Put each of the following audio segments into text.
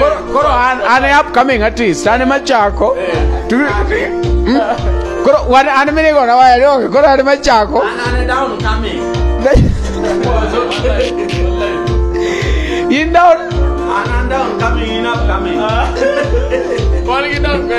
Koro koro an an e upcoming artist, an ema chako. Tu- Mm. Koro wan an minigo na waya donge, koro an ema chako. In down. Wan gi dok be.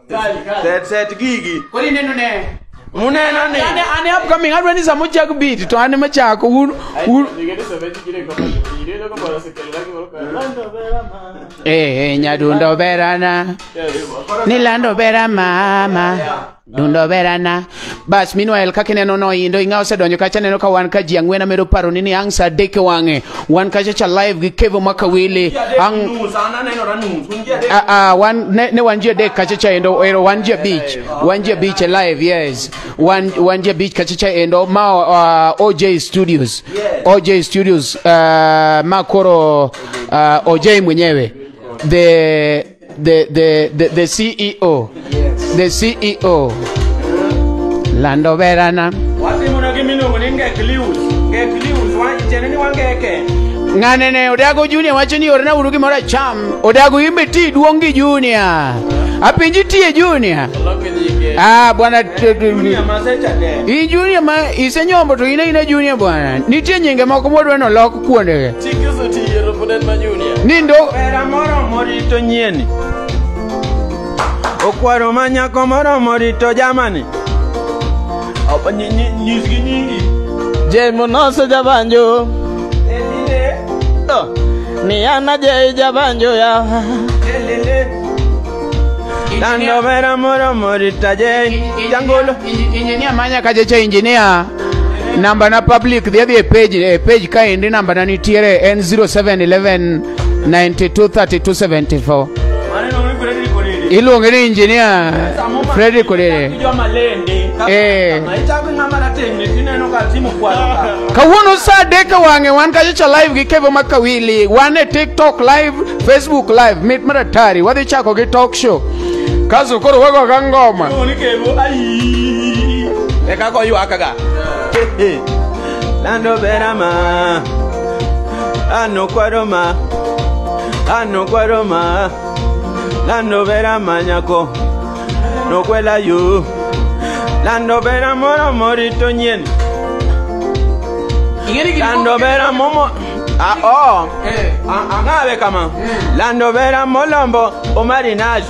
Kali, kali. set set gigi Koro ineno ne. muneno ni Ane ane upcoming adwa ni sama ochak beat to ane machako un un eh eh, nyadundo berana ni lando bera mama dundo berana bas meanwhile kaka ineno noindo ing'a osedonjo kacha neno ka wan ka ji ang'wen amedo paro ni ni ang' sa adek e wang'e wan kacha cha live gi kevo makawili ang' Ah, ah, wan ne, ne wan ji adek kacha cha endo ero wan ji abich wan ji abich e live yes wan wan ji abich kacha cha endo ma uh, OJ Studios OJ Studios uh, ma koro uh, OJ mwenyewe the the, the, the, the CEO. Yes. The CEO. Lando Verana. Ng'ane ne Odago Junior wacho ni orna uru gimoro acham. Odago imbe ti duong' gi Junior. Apenji tie Junior. Ah, bwana i Junior ma isenyombo to ine ine Junior bwana. Nitie nyinge moko modwa nolok kuondege nindo Pera moro morito nyieni okwaro ma nyako moro morito jamani Apa nyi- nyi- nyisgi nyingi jemonoso jabanjo Elile, Oh, ni ana jei jabanjo ya elile. Dando vera moro morita je jangolo Injinia manya kajecha injinia namba na public dhi adhi e page e page kaendi namba na nitiere en 0711 923274 iluonge ni engineer Fredrick Odede Eh. kawuono saa adek e wang'e wan kachocha live gi kevo ma kawili wan e tiktok live facebook live mit maratari wadhi chako gi talk show kaso koro wagoga ngoma Onikevo, ai. Eka go ywaka ga. Lando bera ma. Ano kwaro ma. Ano kwaro ma. Lando bera ma nyako. No kwela yu. Lando bera moro morito nyien. Ingeri gini. Lando bera momo. Ah, oh. Eh. Ang'awe kama. Lando bera molombo omarinaji.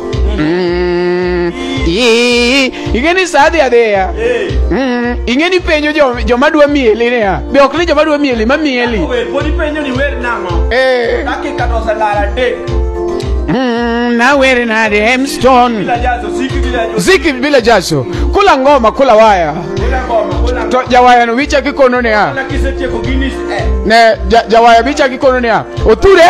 Mm, i- ing'e ni sa dhi adhiya Mm, ing'e ni penjo jo- joma dwa mieli niya be ok ni joma dwa mieli ma mieli Wer pod ipenjo ni wer nang'o? Eh, Dakika to oselal adek. mm, nawere nade hemston Bila jazo, siki bila jazo. ziki bila jaso kula ngoma kula waya Bila ngoma, bila to ngoma. jawayano wicha kikono niya Bila kisetieko Guinness, eh. ne ja- jawaya bicha kikono niya oture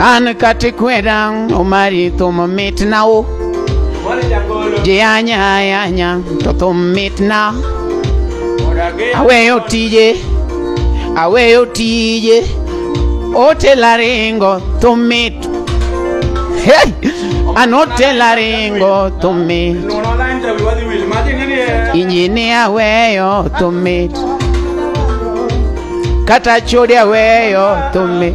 An kati kweda omari thum mitna o Ji anya anya to thum mitna Aweyo tije Aweyo tije Otela ringo thum mit Hey! An otela ringo thum mit Injini aweyo thum mit Kata chode aweyo thum mit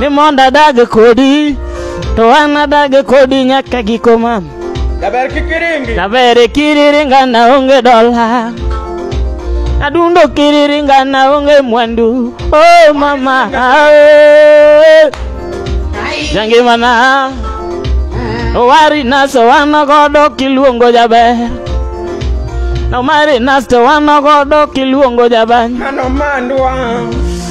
ni mondo adag kodi to an adag kodi nyaka giko mam Daber kikiringi. daber kiriringa na onge dola adundo kiriringa na onge mwandu oh mama ae. jangimana owari nas to wano godo kiluongo jaber nomari nas to wano godo kiluongo jabany Mano mandwa.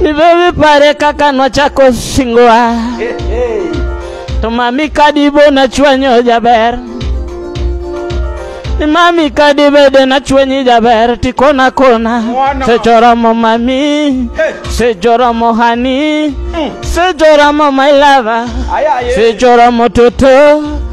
Ni bebe pare kaka nwachako singowa To mami kadibo nachwanyo jaber Ni mami kadibede nachwanyi jaber Tikona kona Sejoromo mami Sejoromo hani Sejoromo my lover Sejoromo toto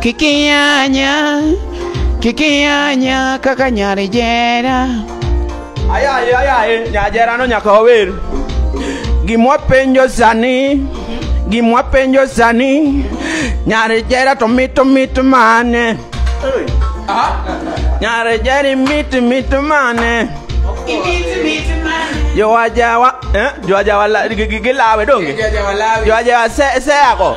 Kikianya, kikianya kaka nyari jera. Ayaye, ayaye, nyajera no nyaka wawer. Gimwa penjo sani, gimwa penjo sani, nyari jera to mito mito mane. Nyari jeri mito mito mane. Jowajawa, eh, jowajawa la- gi- gi- gilawe donge? Jowajawa se, se ako.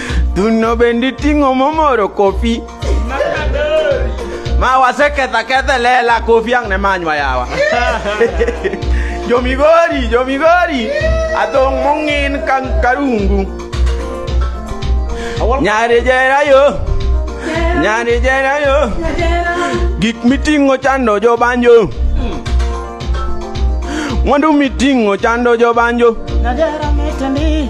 Thuno bende iting'o momoro kofi. Ma waseketha kethe lela kofi ang' ne manywa yawa. Jomigori, jomigori. Athong' mong'in ka karungu. Nyari jera yo. Nyari jera yo. Gik miting'o chando jobanjo. Mwandu miting'o chando jobanjo. Nadera mitani.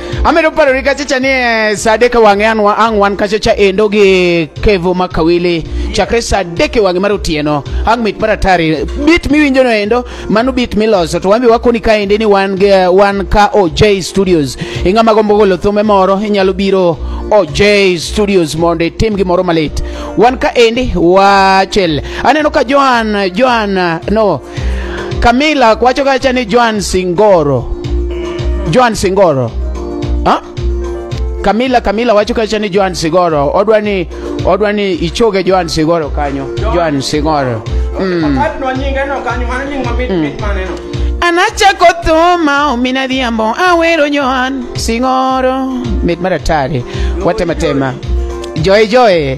amedo parori kacha cha ni eh, saa adek e wang'e an wa- ang' wan kacha cha endo gi kevo ma kawili chakre saa adek e wang'e mar otieno ang' mit maratari bit miwinjono endo mano bit miloso to wambe wakoni ka ende ni wan, ge- wan ka oj studios ing'ama gombo golo thume moro inyalo biro oj studios mondo itim gimoro malit wan ka endi wachel aneno ka joan joan no Camila wacho kacha ni Joan Singoro. Joan Singoro. Ha? Camila Camila wacho kacha ni Joan Singoro. Odwa ni odwa ni ichoge Joan Singoro kanyo. Joan Singoro. Mm. Atno nyinge no kanyo mano nying mamit mit mane no. Anachako thuma omina dhiambo awero Joan Singoro. Mit maratari. Watematema. Joy Joy.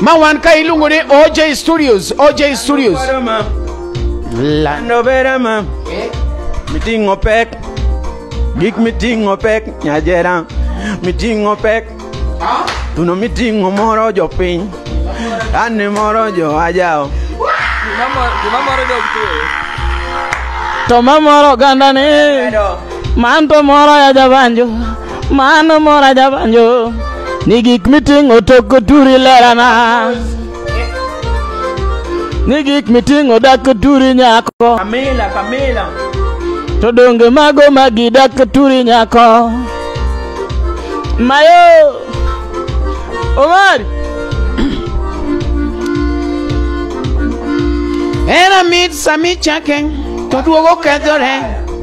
ma wan ka iluongo ni oj studios oj studios La- Novera ma miting'o pek gik miting'o pek nyajera miting'o pek tuno miting'o moro jopiny ane moro joajao to mamoro oganda ni manto moro ya jabanjo Mano mora jabanjo ni gik miting'o tok oturi lerana ni gik miting'o dak oturi nyako Pamela, Pamela. to donge mago magi dak oturi nyako mayo omari Era mit sami chake to duogo kethore.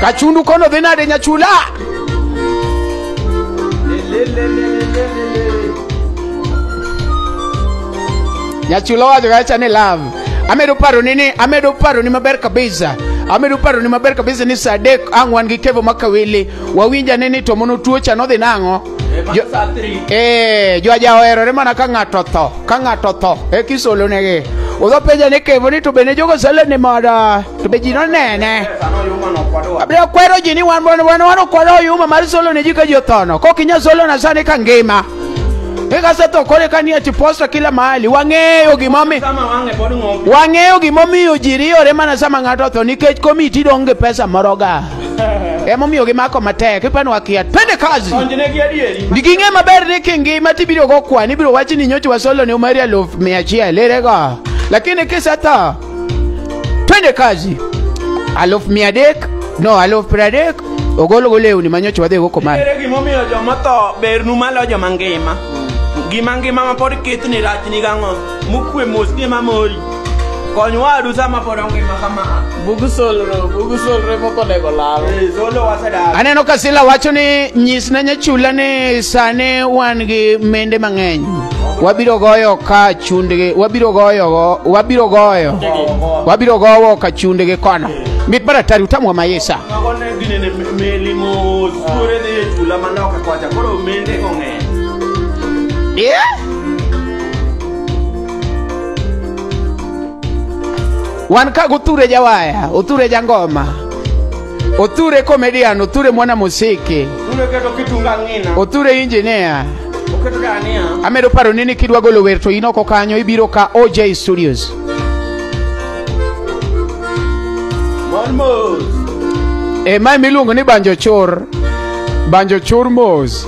Kachundu kono dhi nade nyachula? Nyachula wacho kacha ni love. Amedo paro ni ni amedo paro ni maber kabisa. Amedo paro ni maber kabisa ni saa adek ang' wan gi kevo makawili. Wawinja ni ni to mono tuocha nodhi nang'o? Jo- Eh, jo ajaoherore mana ka ng'ato otho ka ng'ato otho e kisolonegi udho penja ni kevo ni to bende jogo sale ni moda to be ji nonene abiro kwero ji ni wan wan wan wan okwado oyuma mar solo ne ji ka ji othono kok inya solo na sani ka ngima ikasetho kore ka ni ati posta kila mahali wang'eyo gimomi wang'eyo gimomiyo ji riyore mana sama ng'ato otho nikech komiti dong' gi pesa moroga emomiyo gimako matek ipani wakia twende kazi ging'e maber ni kingima tibiro go kwan ibiro wach ni nyocha wasolo ni umari aluf mia achiel erego lakini kisetho twende kazi aluf mia adek no aluf piero adek ogolgo lewni ma nyocha wadhigo komar Ere gimomiyo joma tho bernu maloyo joma ngima? Gima ngima ma pod kithni rachni gang'o? mukwe mos ni ema mori kony wadu sama pod ongima kama bug solro bug solro ema okonego lal Eh, solo wasedar aneno ka sila wacho ni nyis ne nyachula ni sani wan gi mende mang'eny wabiro goyo ka chundgi wabiro goyogo wabiro goyo wabiro gowo ka chundgi kono mit maratari utamwa mayesa mago ne gine ne meli mos tuore dhi e chula manoka kwacha koro mende kong'eny Yeah. wan ka guture jawaya uture jangoma uture comedian uture mwana musiki Tulo keto kitunga ng'ina. uture engineer Oketo dania. amedo paro ni ni kidwa golo wer to in oko kanyo ibiro ka oj studios Mon mos. e ma miluongo ni banjo chor banjo chor mos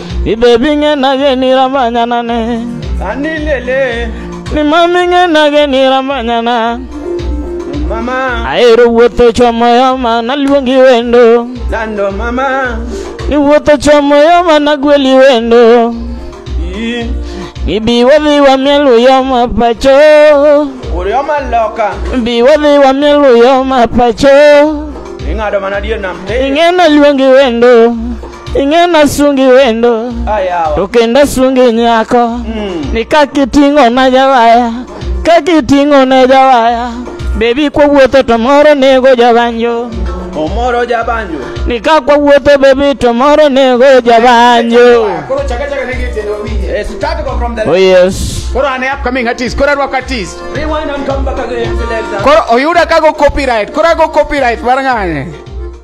Ibebi nge na ge ni ramanya na ne. Ani lele. Ni mami nge na ge ni ramanya na. Mama. Aero wuotho chomo yo ma naluongi wendo. Lando mama. Ni wuotho chomo yo ma nagweli wendo. Ii. Ibi wadhi wamiel uyo ma pacho. Uyo ma loka. Ibi wadhi wamiel uyo ma pacho. Ing'ado mana dier nam. Ing'e naluongi wendo. ing'ena sungi wendo Ayawa. to kendo sungi nyako ni kakiting'o na jawaya kakiting'o na jawaya bebi kwawuotho to moro nego jabanjo Omoro jabanjo. ni ka kwawuotho bebi to moro nego jabanjo Koro chaka chaka ne gitendo wawinje. Eh, start go from the oh yes Koro ane upcoming artist, koro arwako artist. Rewind and come back again, selector. Koro oyuda kago copyright, koro ago copyright mar ng'ane.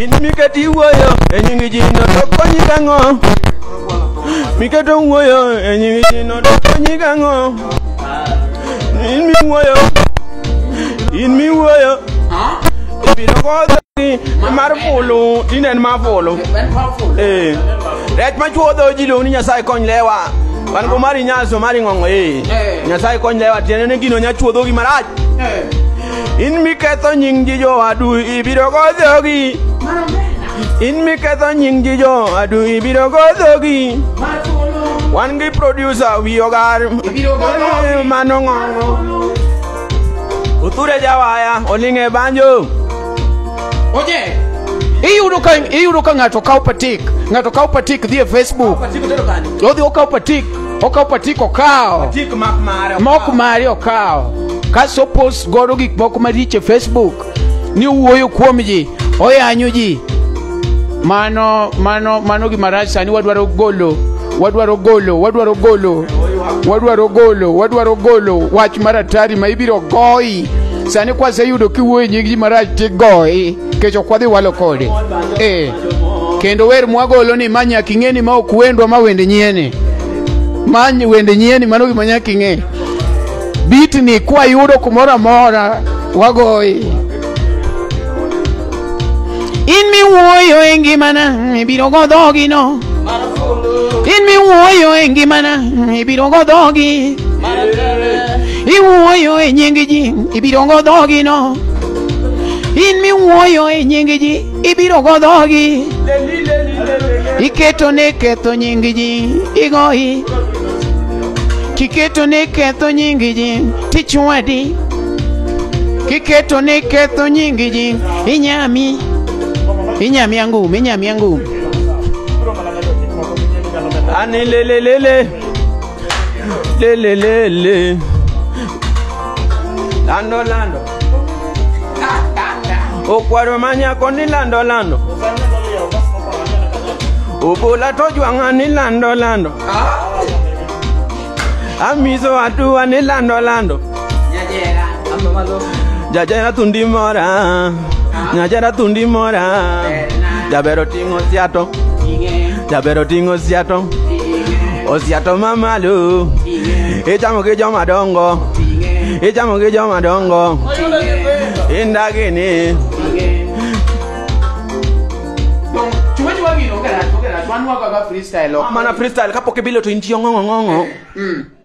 in miketo iwuoyo e nying jino to konyi gang'o miketo wuoyo e nying jino to konyi gang'o in miwuoyo in miwuoyo ibiro kodhogi mar fulu tinen ma fulu ee rech machuodho ji luongo ni nyasaye kony lewa wan go mari nyaso mari ng'ong'o ee nyasaye kony lewa tiende ni gino nyachuodhogi marach In miketho nying ji jowadu ibiro go dhogi. In miketho nying ji jowadu ibiro go dhogi. Wan gi producer wi ogar. Eh, Mano ng'ongo. Uthure jawaya oling' e banjo. Oje. Iyudo ka iyudo ka ng'ato kawo patik, ng'ato kawo patik dhi e Facebook. Odhi okawo patik. okawo patik okawo mok mari okawo kasto opost godo gik moko maricho e facebook ni owuoyo kuom ji oyanyo ji mano mano mano gima rach sani wadwaro golo wadwaro golo wadwaro golo wadwaro golo wadwaro golo wach maratari ma ibiro goyi sani kwaseyudo kiwuoyo e nying ji marach tigoyi kech ok wadhi walo kode ee kendo wer mwagolo ni ma nyaka ing'e ni ma ok wendwa ma wende nyieni ma ny- wende nyieni mano gima nyaka ing'e bitni kwayudo kumoro amora wagoyi in miwuoyo e ngimana ibiro go dhogino in miwuoyo e ngimana ibiro go dhogi iwuoyo e nying ji ibiro go dhogino in miwuoyo e nying ji ibiro go dhogi iketo ne ketho nying ji igoyi kiketo ne ketho nying ji tichwadi kiketo ne ketho nying ji inyami inyami angum inyami angum ani lelelele lelelele lando lando Okwaro ma nyako ni lando lando. Obola to jwang'a ni lando lando. Amiso atua ni lando lando. Jajera tundi mora. Nyajera tundi mora. Jabero ting'o siato. Jaber oting' osiato osiato mamalo ichamo gi joma dongo ichamo gi joma dongo indagini mana freestyle kapok ibilo to intiyo ng'ong'ong'ong'o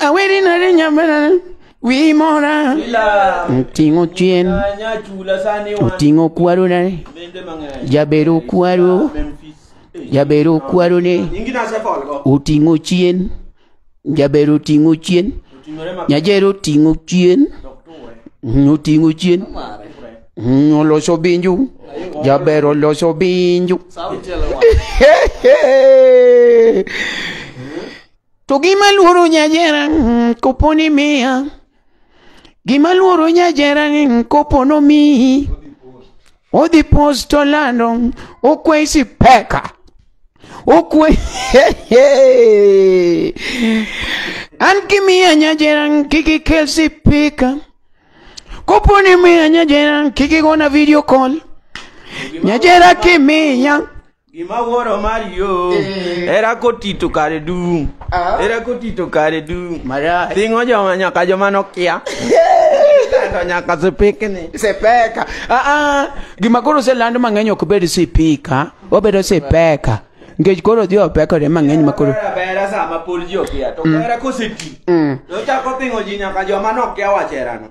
Aweri na re nyamara wi mora Ila Oting'o chien Anya chula sani wan Oting'o kwaro na Mende mang'eny Jabero kwaro Memphis Eh, Jabero kwaro ne Nyingi na sefol go Oting'o chien Jabero oting'o chien Oting'ore ma Nyajero oting'o chien Doktowe Oting'o chien Kure Oloso binju Jabero oloso binju Sauti ya lawa. To gima luoro nyajera mm, kopo ni miya gima luoro nyajera ni mm, kopo nomiyi odhi post to lando mm, okwesi peka okwe an kimiya nyajera mm, kik ikel sipika kopo ni miya nyajera mm, kik igona video call nyajera kimiya Gima wuoro Mario Eh. era kotito kare dum. Ah. Era kotito kare dum. Marach. Tingo joma nyaka joma nokia. Kando nyaka sipikni. Sipeka. Ah ah. Gima koro oseland mang'eny ok bed sipika, obedo sipeka. Nikech koro odhi opekore mang'eny ma koro. Era bera sama pod ji okia to era koseti. Mm. To chako tingo ji nyaka joma nokia wacherano.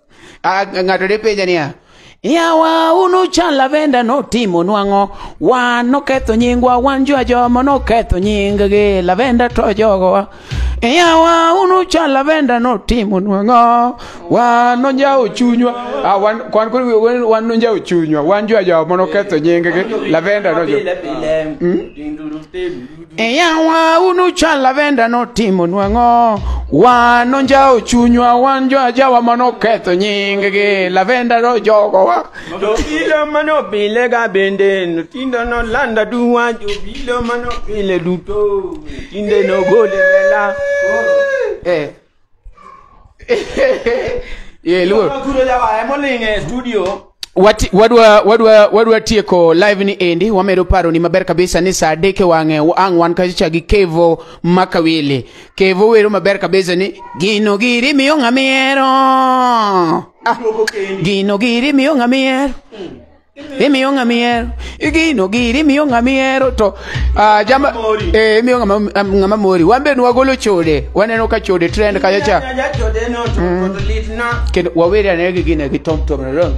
Ah, ng'ato ne penja niya yawa un uchan lavenda notimo nwang'o wan noketho nyingwa wan jo ajomo noketho nyinggi lavenda to jogowa yawa un uchan lavenda notimo nwang'o wan nonjawo chunywa ah, wan kwan kod wan- wan nonjawo chunywa wan jo ajomo noketho nyinggi lavenda nojo Pile, pile, dinduru, telu. E yawa unu chal lavenda notimo nwang'o wan onjawo chunywa wan jo ajawa manoketho nyinggi lavenda nojogowa Jobilo manobile ga bende notindo nolanda duwa jobilo manobile duto tinde nogole lela eh. yeah, luo. Kuro jawa emoling e studio. Wati, wadwa, wadwa, wadwa tieko live ni endi wamedo paro ni maber kabisa ni saa adek e wang'e ang' wan kacha gi kevo makawili kevo wero maber kabisa ni gino giri miyo ng'a mihero ah, gino giri miyo ng'a mihero imiyo ng'ama ihero igino giri imiyo ng'ama ihero to ah, jama eh, imiyo ng'ama ng'ama mori wan be nwagolo chode waneno ka chode trend kacha cha kendo waweri ane gi gine gi tom tom ron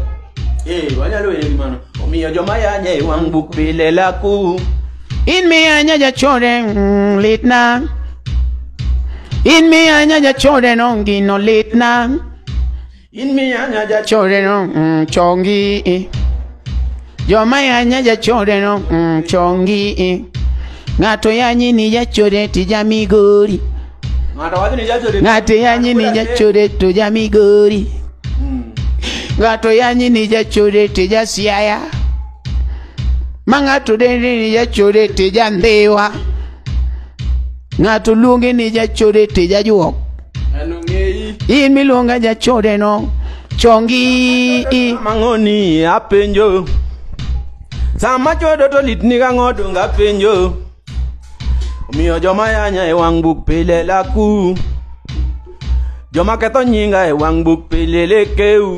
Eh, wanyalo were gi mano omiyo joma yanya e wang' buk pile laku in miyo anyaja chode mm, litna in miyo anyaja chode no gino litna Chore no mm, chongi eh. Joma yanya jachore no mm, chongi eh. Ng'ato yanyi ni jachore ti jamigori Ng'ato yanyi ni jachore to jamigori Ng'ato yanyi ni jachore ti jasiaya Ma ng'ato dende ni jachore ti jandhiwa Ng'ato luonge ni jachore ti jajuok An ong'eyi. in miluonga jachode no chongi i mang'oni apenjo sama chodo to lit ni gang'o donge apenjo omiyo joma yanya e wang' buk pile laku joma ketho nyinga e wang' buk pile lekeu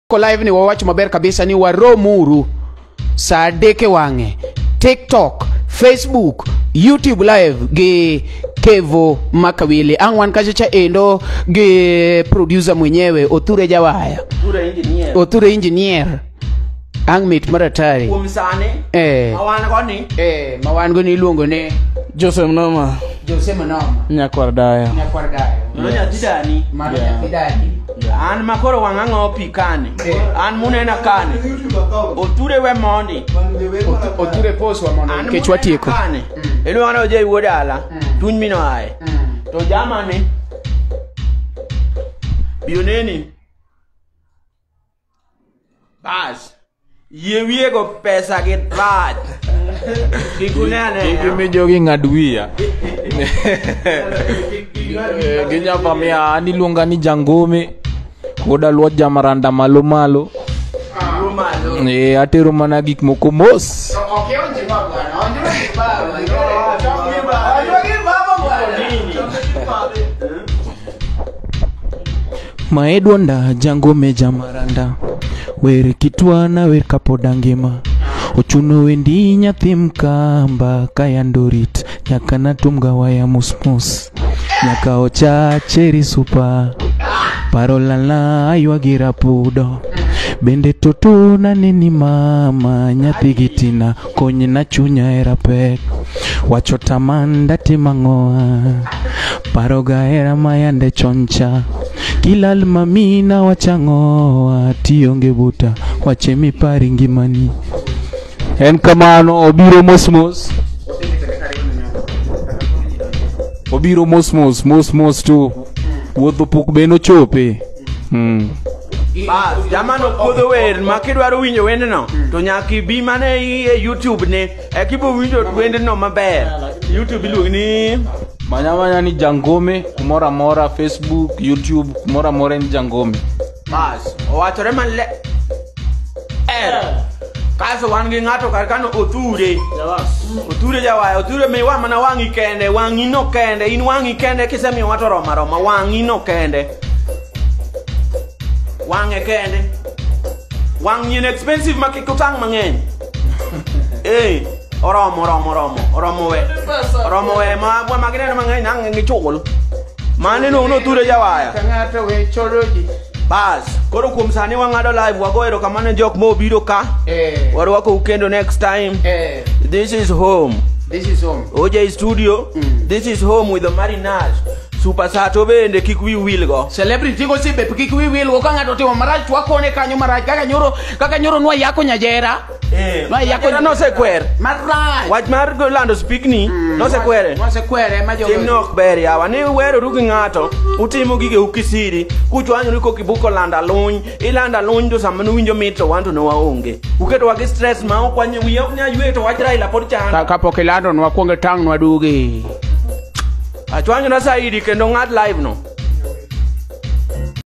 ko live ni wawacho maber kabisa ni waromuru saa adek e wang'e tiktok facebook youtube live gi kevo makawili ang' wan kacha cha endo gi producer mwenyewe othure jawaya Tura engineer. othure engineer ang' mit maratari Kuom sani. eh, Awan go ni. eh, ma wan go ni iluongo ni Joseph Noma. Jose Manoma. Nyakwar dayo. Nyakwar dayo. Mano nyathi dani. Mano Yeah. nyathi dani. An ma koro wang'a ng'o pi kani. Yeah. An munena kani. Oture we mondi. Otu- Oture pos wa mondo An nikech munena watieko. kani. Iluongo ni Ojei wuod ala. Mm. Tuny mino aye. Mm. To jamani. Bioneni. Bas. Yie wiye go pesa gi bad. Kikune ane. Gimi jogi ng'ad wiya. Eh, Ginyapa miya an iluonga ni jangome. Koda luo jamaranda malo malo. Rumalo. Eh, atero mana gik moko mos. To ok ionje ma bwana, onje ma baba. Chongi baba. Chongi baba bwana. Chongi baba. Maedwonda jango meja maranda wer kitwana wer kapod angima ochuno wendi nyathi mkamba kayandorit nyaka natumga waya musmus nyaka ochacheri supa paro lala aywagi rapudo bende totona neni mama nyathi gitina konyna chunya hera pek wacho taman datim ang'oa paroga hera mayande choncha kilal mamina wachang'oa tionge buta wache mipari ngimani en kamano obiro mosmos obiro mosmos mosmos to wuodh opuk be nochope Mm. Bas, jamano puodho wer ma kidwaro winjo wendno to nyaka ibi mana e YouTube ni e kibo winjo wendno maber. YouTube iluongo ni Manya manya ni Jangome kumoro amora Facebook, YouTube kumoro amora en Jangome. Bas, owachore maler. kaso wan gi ng'ato kar kano othure othure jawaya othure miwa mana wang'i kende wang'i no kende in wang'i kende kisemiyo wato roma roma wang'i no kende wang'e kende wang'i en expensive ma kik utang' mang'eny ee oromo oromo oromo oromo we oromo we ma magineno mang'eny nang'e gichul Mani no uno ture jawaya. Ng'ato we choro ji. Bas, koro kuom sani wang'ado live wago erokamano jok ma obiro ka. Eh. Warwakou kendo next time. Eh. This is home. This is home. OJ Studio. Mm. This is home with the Marinage. Super Sato bende kik wi wil go. Celebrity go sibe kik wi wil go ka ng'ato timo marach wakone kanyo marach kaka nyoro kaka nyoro nwa yako nyajera. Eh, Ma yako- ratiro nosekwer Marach. wach mar go lando spikni nosekwere Mosekwere ma jogo. timne ok ber yawa ni weroru gi ng'ato utimo gige ukisiri kuchwanyoru kokibuko landa luny ilanda luny to sama nuwinjo mit to wan to ne waonge uketowa gi stress ma ok wanye wiya ok nyaywe to wach raila pod chanda Ka- Kapok ilando nwa kuonge tang' nwa dugi. achwanyona saidi kendo ng'ad live no